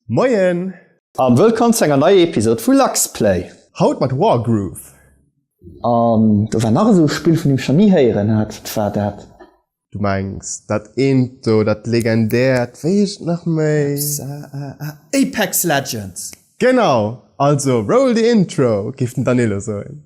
Moien! An wëllkomm zu enger neier Episode vu Luxplay! Haut mat Wargroove! An do war nach esou e Spill vun deem ech nach ni héieren hat. Wat war dat? Du mengs dat eent do, dat legendäert, wéi heescht et nach méi? Apex Legends! Genau! Also roll the intro, géif den Danilo soen.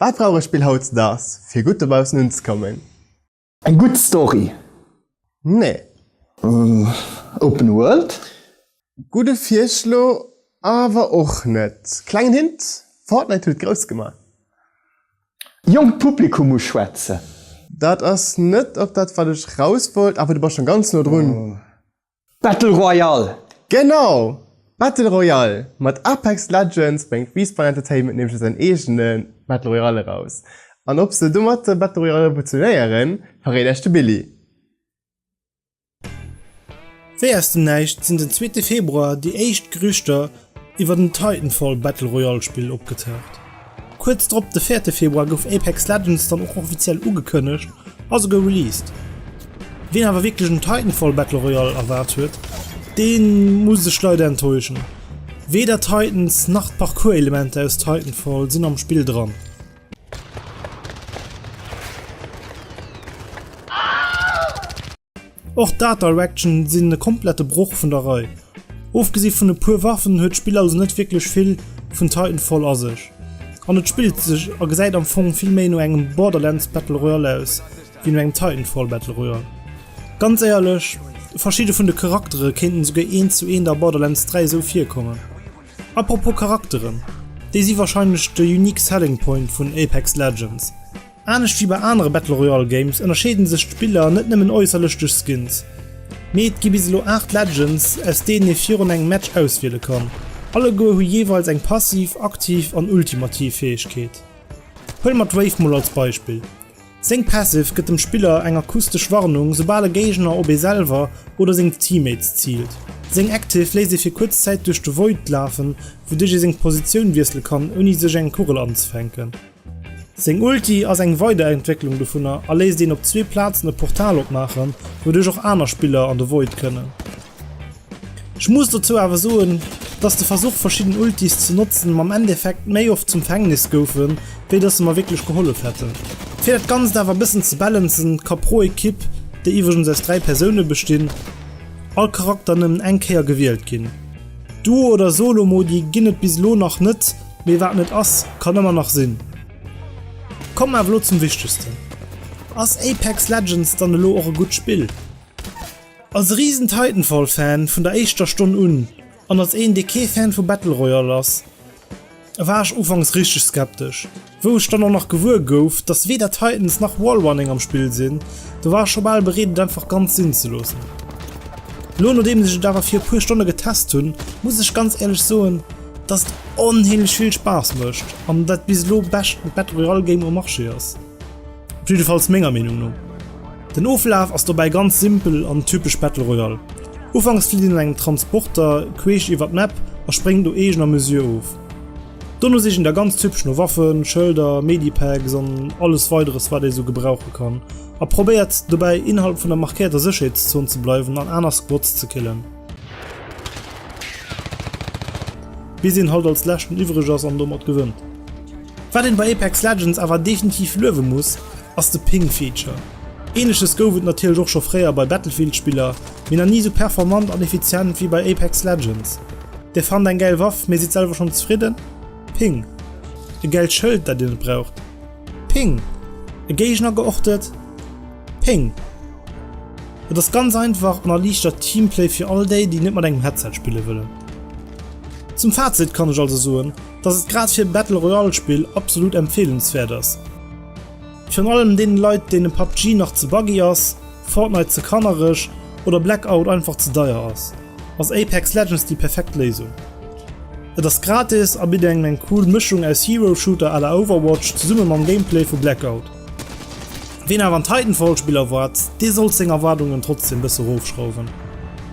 Wat brauch ech Bill haut zedags fir gutt dobaussen unzekommen? Eng gutt Story? Nee. Open World? Gudde Virschlo, awer och net. Klengen Hint, Fortnite huet grouss gemaach. Jonkt Publikum uschwätzen? Dat ass net op dat wat ech raus wollt, awer du bass scho ganz no drun. Battle Royale! Genau! Battle Royale! Mat Apex Legends bréngt Respawn Entertainment nämlech elo säin eegene Battle Royale eraus. An ob se domat de Battle Royale revolutionéieren, verréit Iech de Billy. Wéi aus dem Näischt sinn den zweete Februar déi éischt Gerüchter iwwert en Titanfall Battle Royale Spill opgetaucht. Kuerz drop, de véierte Februar, gouf Apex Legends dann och offiziell ugekënnegt a souguer released. Ween awer wierklech en Titanfall Battle Royale erwaart huet, dee muss sech leider enttäuschen. Weder Titans nach d'Parcours-Elementer aus Titanfall sinn am Spill dran. Och d'Art Direction sinn e komplette Broch vun der Rei. Ofgesi vun e puer Waffen huet d'Spill also net wierklech vill vun Titanfall a sech. An et spillt sech a gesäit am Fong vill méi no engem Borderlands Battle Royale aus wéi no engem Titanfall Battle Royale. Ganz éierlech, verschidde vun de Charaktere kéinten esouguer eent zu eent a Borderlands 3 esou virkommen. Apropos Charakteren, déi si warscheinlech de unique selling point vun Apex Legends. Anescht wéi bei anere Battle Royale Games ënnerscheeden sech d'Spiller net nëmmen äusserlech duerch Skins, mee et gi bis elo 8 Legends aus deenen ee virun engem Match auswiele kann. Alleguer hu jeeweils eng passiv, aktiv an ultimativ Fäegkeet. Huele mer d'Wave mol als Beispill. Seng Passive gëtt dem Spiller eng akustesch Warnung soubal e Géigner op ee selwer oder seng Teammates ziilt. Seng Active léisst ee fir kuerz Zäit duerch de Void lafen, wouduerch ee seng Positioun wiessele kann ouni sech eng Kugel anzefänken. Seng Ulti ass eng Weiderentwécklung dovunner a léisst een op zwee Plazen e Portal opmaachen, wouduerch och aner Spiller an de Void kënnen. Ech muss dozou awer soen, dass de Versuch verschidden Ultis ze notzen mam Endeffekt méi oft zum Fängnis goufen, wéi dass se mer wierklech gehollef hätten. Fir dat Ganzt awer e bëssen ze balancen, ka pro Equipe, déi iwwregens aus 3 Persoune bestinn, all Charakter nëmmen eng Kéier gewielt ginn. Duo oder Solo Modi ginn et bis elo nach net, Mee wat net ass, kann ëmmer nach sinn. Kommen mer awer elo zum Wichtegsten, Ass Apex Legends dann elo och e gutt Spill? Als e riesen Titanfall Fan vun der éischter Stonn un, an als een dee kee Fan vu Battle Royale ass, war ech ufanks richteg skeptesch. Wou ech dann och nach gewuer gouf, dass weder Titans nach Wallrunning am Spill sinn, do war ech scho bal bereet et einfach ganz sinn ze loossen. Elo nodeems ech et awer fir e puer Stonne getest hunn, muss ech ganz éierlech soen, dass et onheemlech vill Spaass mécht an dat bis elo bescht Battle Royale Game um Marché ass. Op jiddefalls menger Meenung no. Den Oflaf ass dobäi ganz simpel an typesch Battle Royale. Ufanks flitt een an engem Transporter queesch iwwert d'Map a spréngt au eegener Mesure of. Dono sicht een da ganz typesch no Waffen, Schëlder, Medipacks an alles weideres wat ee sou gebrauche kann a probéiert dobäi innerhalb vun der markéierter Sécherheetszon ze bleiwen an aner Squads ze killen. Bis een halt als leschten iwwreg ass an domat gewënnt. Wat een bei Apex Legends awer definitiv luewe muss, ass de Ping Feature. Ähnleches gouf et natierlech och scho fréier bei Battlefield Spiller, mee nach ni sou performant an effizient wéi bei Apex Legends. Dir fannt eng gäil Waff, mee sidd selwer schonn zefridden? Ping! E gäilt Schëld dat dir net braucht? Ping! E Géigner geortet. Ping! Et ass ganz einfach an erliichtert Teamplay fir all déi, déi net mat engem Headset spille wëllen. Zum Fazit kann ech also soen, dass et grad fir e Battle Royale Spill absolut empfehlenswert ass. Virun allem deene Leit, deene PUBG nach ze buggy ass, Fortnite ze kannereg oder Blackout einfach ze deier ass. Ass Apex Legends déi perfekt Léisung? Et ass gratis a bitt engem eng cool Mëschung aus Hero-Shooter à la Overwatch zesumme mam Gameplay vu Blackout. Ween awer en Titanfall-Spill erwaart, dee sollt seng Erwaardungen trotzdeem bësse rofschrauwen.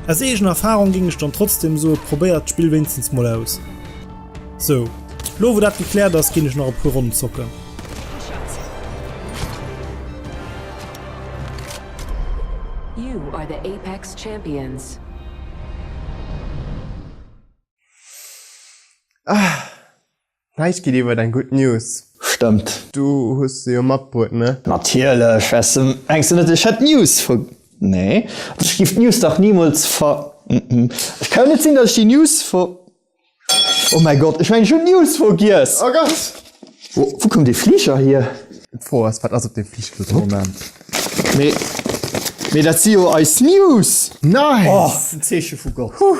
Aus eegener Erfarung géing ech dann trotzdeem soe probéiert d'Spill wéinstens mol aus. Sou, lo wou dat gekläert ass, ginn ech nach e puer Ronnen zocken. Champions. Ah! Näischt geet iwwert eng gutt News. Stëmmt. Du hues se jo matbruet, ne? Natierlech! Wärst de mengs du net ech hätt d'News ver. Nee, ech giff d'News dach nimools ver. Ech kann jo net sinn, datt ech déi News ver. Oh mäi Gott, ech mengen ech hunn d'News vergiess! Oh Gott! Wou koum dee Fliger hier? D'Fro ass, wat ass op deem Fliger dëse Moment? Mee, mee dat si jo eis News! Nice! Oh, en Zeeche vu Gott! Huh!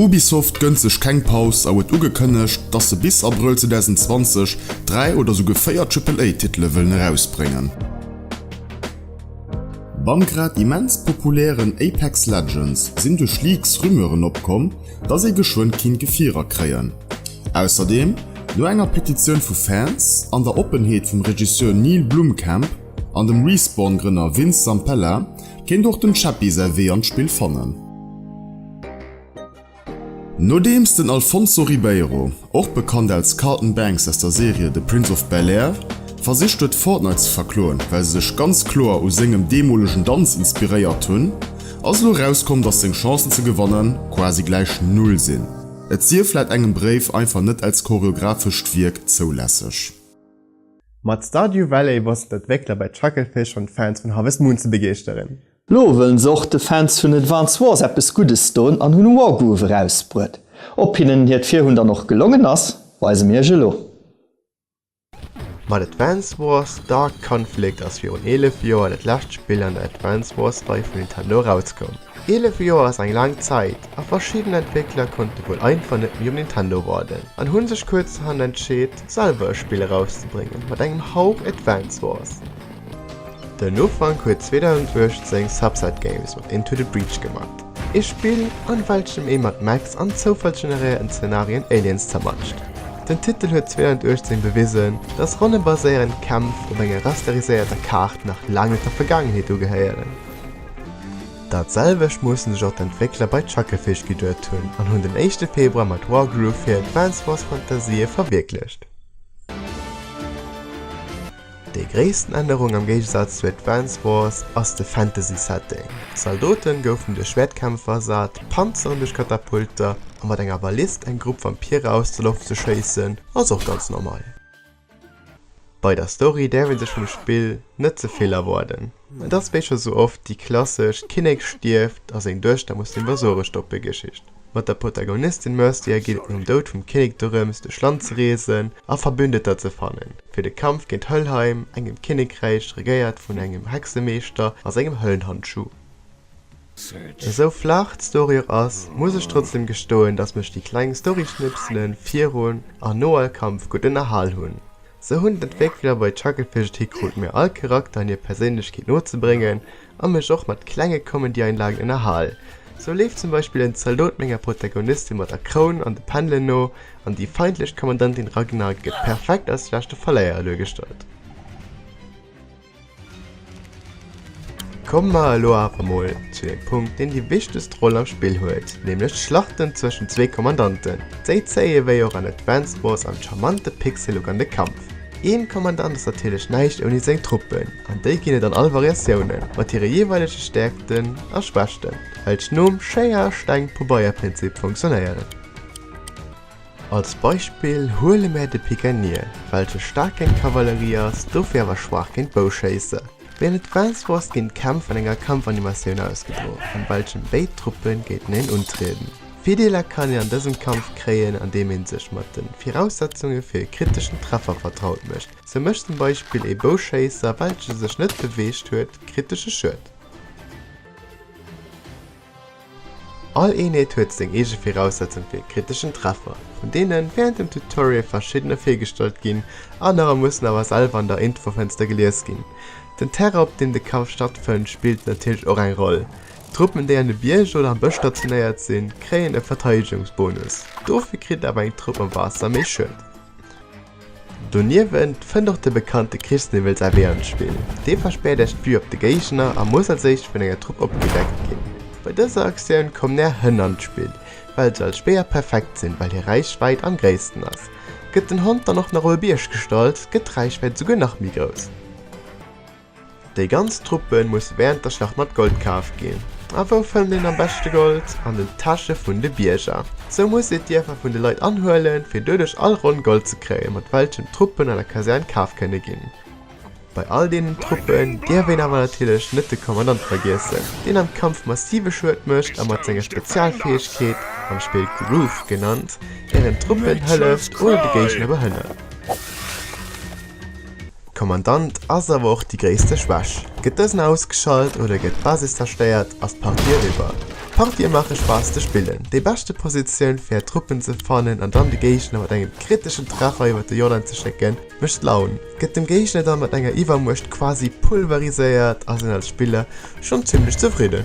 Ubisoft gënnt sech keng Paus a huet ugekënnegt, dass se bis Abrëll 2020 dräi oder souguer véier Triple-A-Titele wëllen erausbréngen. Beim grad immens populären Apex Legends sinn duerch Leaks Rumeuren opkomm, dass ee geschwënn kinnt Gefierer kréien. Ausserdeem, no enger Petitioun vu Fans an der Oppenheet vum Regisseur Neill Blomkamp an dem Respawn-Grënner Vince Zampella, Kéint och dem Chappi säi Wee an d'Spill fannen. Nodeems den Alfonso Ribeiro, och bekannt als Carlton Banks aus der Serie The Prince of Bel-Air, versicht huet Fortnite ze verkloen, well se sech ganz kloer u sengem deemolegen Danz inspiréiert hunn, ass elo erauskomm, dass seng Chancen ze gewanne quasi gläich Null sinn. Et sief laut engem Bréif einfach net als choreographescht Wierk zoulässeg. Mat Stardew Valley wossten d'Entwéckler bei Chucklefish schonn d'Fans vun Harvest Moon ze begeeschteren. Lo wëllen se och de Fans vun Advance Wars eppes Guddes doen an hunn Wargroove erausbruet. Ob hinnen hiert Virhunn dann och gelongen ass, weise mir iech elo. Mat Advance Wars, Dark Conflict ass virun 11 Joer dat lescht Spill an der Advance Wars Rei vun Nintendo erauskomm. Eelef Joer ass eng laang Zäit, a verschidden Entwéckler konnte wuel einfach net méi um Nintendo warden an hu sech kuerzerhand entscheet, selwer e Spill erauszebréngen mat engem Hauch Advance Wars. Den Ufank huet 2018 Subset Games mat Into the Breach gemat, ee Spill, an welchem ee mat Mechs an zoufallsgeneréierten Zenarien Aliens zermatscht. Den Titel huet 2018 bewisen, dass ronnebaséierend Kämpf op enger rasteriséierter Kaart nach laang net der Vergaangenheet ugehéieren. Dat selwecht musse sech och d'Entwéckler bei Chucklefish geduet hunn an hunn den éischte Februar mat Wargroove hir Advance Wars Fantasië verwierklecht. Déi gréissten Ännerung am Géigesaz zu Advance Wars ass de Fantasy Setting. Zaldote goufen duerch Schwäertkämpfer ersat, Panzeren duerch Katapulter a mat enger Ballist eng Grupp Vampire aus der Loft ze schéissen ass och ganz normal. Bei der Story däerf ee sech vum Spill net ze vill erwaarden. Et ass wéi scho sou oft déi klassesch Kinnek stierft a seng Duechter muss dem Versuere stoppe Geschicht. Mat der Protagonistin Mercia geet et nom Doud vum Kinnek dorëms duerch Land ze reesen a Verbündeter ze fannen fir de Kampf géint Helheim, engem Kinnekräich regéiert vun engem Hexemeeschter a sengem Höllenhandschuh. Esou flach d'Story och ass, muss ech trotzdem gestoen, dass mech déi kleng Storyschnipselen virun an no all Kampf gutt ënnerhal hunn. Sou hunn d'Entwéckler bei Chuckle Fish et hikrut mir all Charakter an hir Perséinlechkeet no ze bréngen a mech och mat klenge Comedy-Einlagen ënnerhal. Sou leeft zum Beispill en Zaldot menger Protagonistin mat der Kroun an de Pendelen no an déi feindlech Kommandantin Ragna gëtt perfekt als leschte Verléierer duergestallt. Komme mer elo awer mol zu dem Punkt, deen déi wichtegst Roll am Spill huet, nämlech d'Schlachten zwëschen zwee Kommandanten. Déi zéie wéi och an Advance Wars an charmante Pixellook an de Kampf. Een Kommandant ass natierlech näischt ouni seng Truppen, an déi ginn et an all Variatiounen, mat hire jeeweilege Stäerkten a Schwächten, welch nom Schéier-Steng-Pobeierprinzip funktionéieren. Als Beispill huele mär de Pikenier, welche staark géint Kavallerie ass, dofir awer schwaach géint Bouschéisse. Wéinst et Vance Wars ginn d'Kämpf an enger Kampfanimatioun ausgedro, an welchem béid Truppe géinteneen untrieden. Virdeeler kann een an dësem Kampf kréien, andeem ee sech mat de Viraussetzunge fir e kriteschen Treffer vertraut mécht. Sou mécht zum Beispill ee Bouschéisser, welche sech net beweegt huet, kritesche Schued. All Eenheet huet seng eege Viraussetzung fir e kriteschen Treffer, vun deene wärend dem Tutorial verschiddener virgestallt ginn, anerer mussen awer selwer an der Infofënster gelies ginn. Den Terrain op deem de Kampf stattfënnt spillt natierlech och eng Roll. Truppen déi an de Bierger oder am Bësch stationéiert sinn, kréien e Verteidegungsbonus, dofir kritt awer eng Trupp am Waasser méi Schued. Doniewent fënnt och de bekannte Krichsniwwel säi Wee an d'Spill. Dee verspäert Iech d'Vue op de Géigner a muss als éischt vun enger Trupp opgedeckt ginn. Bei dëser Aktioun kommen Är Hënn an d'Spill. Well se als Speer perfekt sinn, well hir Räichwäit am gréissten ass, gëtt den Hond dann och nach op e Bierg gestallt, gëtt d'Räichwäit esouguer nach méi grouss. Déi ganz Truppe muss wärend der Schlacht mat Gold kaf ginn. A wou fënnt een am beschte Gold? An den Täsche vun de Bierger. Sou muss ee d'Dierfer vun de Leit anhuelen, fir doduerch all Ronn Gold ze kréien, mat welchem d'Truppen an der Kasern kaf kënne ginn. Bei all deenen Truppen dierf een awer natierlech net de Kommandant vergiessen, deen am Kampf massive Schued mécht a mat senger Spezialfäegkeet, am Spill Groove genannt, ären Truppen hëlleft oder de Géigner behënnert. Kommandant ass awer och déi gréisste Schwäch. Gëtt dësen ausgeschalt oder gëtt d'Basis zerstéiert, ass d'Partie eriwwer. Partië maache Spaass ze spillen, déi beschte Positioun fir är Truppen ze fannen an dann de Géigner mat engem kriteschen Treffer iwwer de Jordan ze schécken, mécht Laun, gëtt dem Géigner dann mat enger Iwwermuecht quasi pulveriséiert, ass een als Spiller schonn zimmlech zefridden.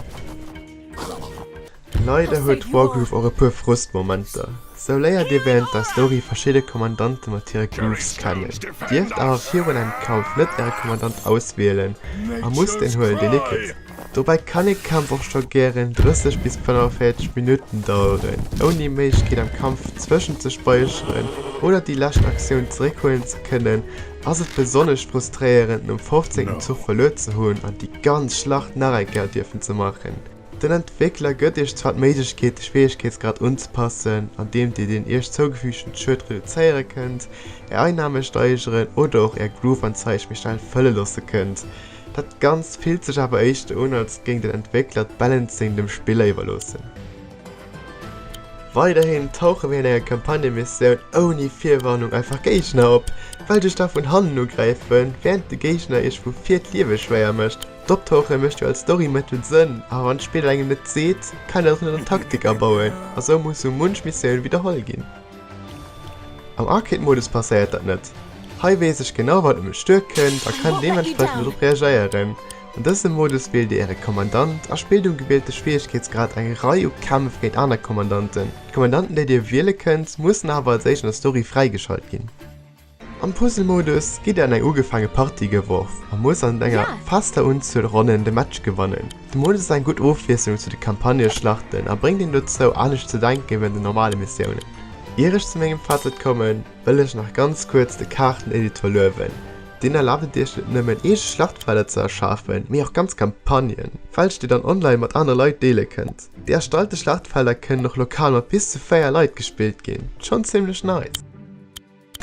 Leider huet Wargroove och e puer Frustmomenter. Sou léiert dir wärend der Story verschidde Kommandante mat hire Grooves kennen, dierft awer virun engem Kampf net äre Kommandant auswielen a musst deen huelen deen ee kritt. Dobäi kann ee Kampf och scho gären 30 bis 45 Minutten daueren, ouni Méiglechkeet am Kampf zwëschent ze späicheren oder déi lescht Aktioun zeréckhuelen ze kënnen, ass et besonnesch frustréierend nom 15. Zuch verluer ze hunn an déi ganz Schlacht nach eng Kéier dierfen ze maachen. Den Entwéckler gëtt Iech zwar d'Méiglechkeet, de Schwieregkeetsgrad unzepassen, andeem Dir den Iech zougefügten Schued reduzéiere kënnt, Är Einname steigeren oder och Är Groove-Anzeig méi schnell fëlle loosse kënnt. Dat Ganzt fillt sech awer éischter un, als géing den Entwéckler d'Balancing dem Spiller iwwerloossen. Weiderhin tauche wärend enger Kampagnemissioun ouni Virwarnung einfach Géigner op, welch Iech da vun hannen ugräifen, wärend de Géigner Iech vu vir d'Liewe schwéier mécht. D'Optauche mécht jo als Story-Method Sënn, awer wann d'Spill engem net seet, kann een och net an Taktik abauen, a sou muss sou munch Missioun widderholl ginn. Am Arcade-Modus passéiert dat net. Hei weess ech genau wat op mech duer kënnt a kann deementsprechend drop reagéieren. An dësem Modus wielt Dir Äre Kommandant a spillt um gewielte Schwieregkeetsgrad eng Rei u Kämpf géint aner Kommandanten. D'Kommandanten déi Dir wiele kënnt, mussen awer als éischt an der Story fräigeschalt ginn. Am Puzzle-Modus gitt der an eng ugefaange Partie geworf a musst an enger fester Unzuel Ronnen de Match gewannen. De Modus ass eng gutt Ofwiesslung zu de Campagneschlachten a bréngt een dozou, anescht ze denke wéi an den normale Missiounen. Ier ech zu mengem Fazit kommen, wëll ech nach ganz kuerz de Kaarten-Editor luewen. Deen erlaabt et iech net nëmmen eege Schlachtfelder ze erschafen, mee och ganz Campagnen, welch dir dann online mat anere Leit deele kënnt. Déi erstallte Schlachtfelder kënnen och lokal mat bis zu 4 Leit gespillt ginn. Schonn zimmlech nice!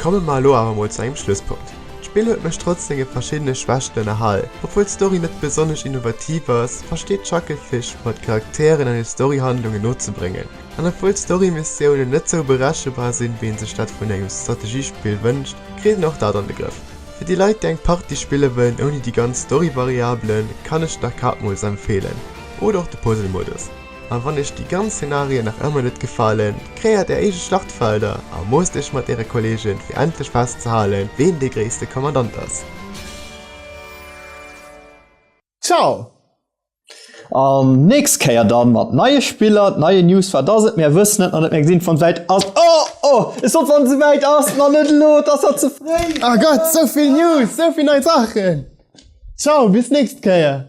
Komme mer elo awer mol zu engem Schlusspunkt. D'Spill huet mech trotz senge verschiddene Schwächten ënnerhal. Obwuel d'Story net besonnesch innovativ ass, versteet d'Chuckle Fish mer d'Charakteren an hir Storyhandlungen nozebréngen. An obwuel d'Story-Missiounen net sou berechebar sinn, wéi een sech dat vun engem Strategiespill wënscht, kritt een och dat an de Grëff. Fir déi Leit, déi eng Partie spille wëllen ouni déi ganz Story-Variabelen, kann ech d'Arcade-Modus empfeelen, oder och de Puzzle-Modus. An wann iech déi ganz Szenarien nach ëmmer net gefalen, kreéiert är eege Schlachtfelder a moosst iech mat äre Kolleegen fir endlech festzehalen, ween dee gréisste Kommandant ass. Ciao! An nächst Kéier dann mat neie Spiller, neie News, wat ass et, mär wëssen et nach net, mär gesinn et wann et wäit ass, oh oh, ech sot wann se wäit ass, ma net elo, et ass nach ze fréi. Oh Gott, souvill News, souvill nei Saachen, ciao bis nächst Kéier.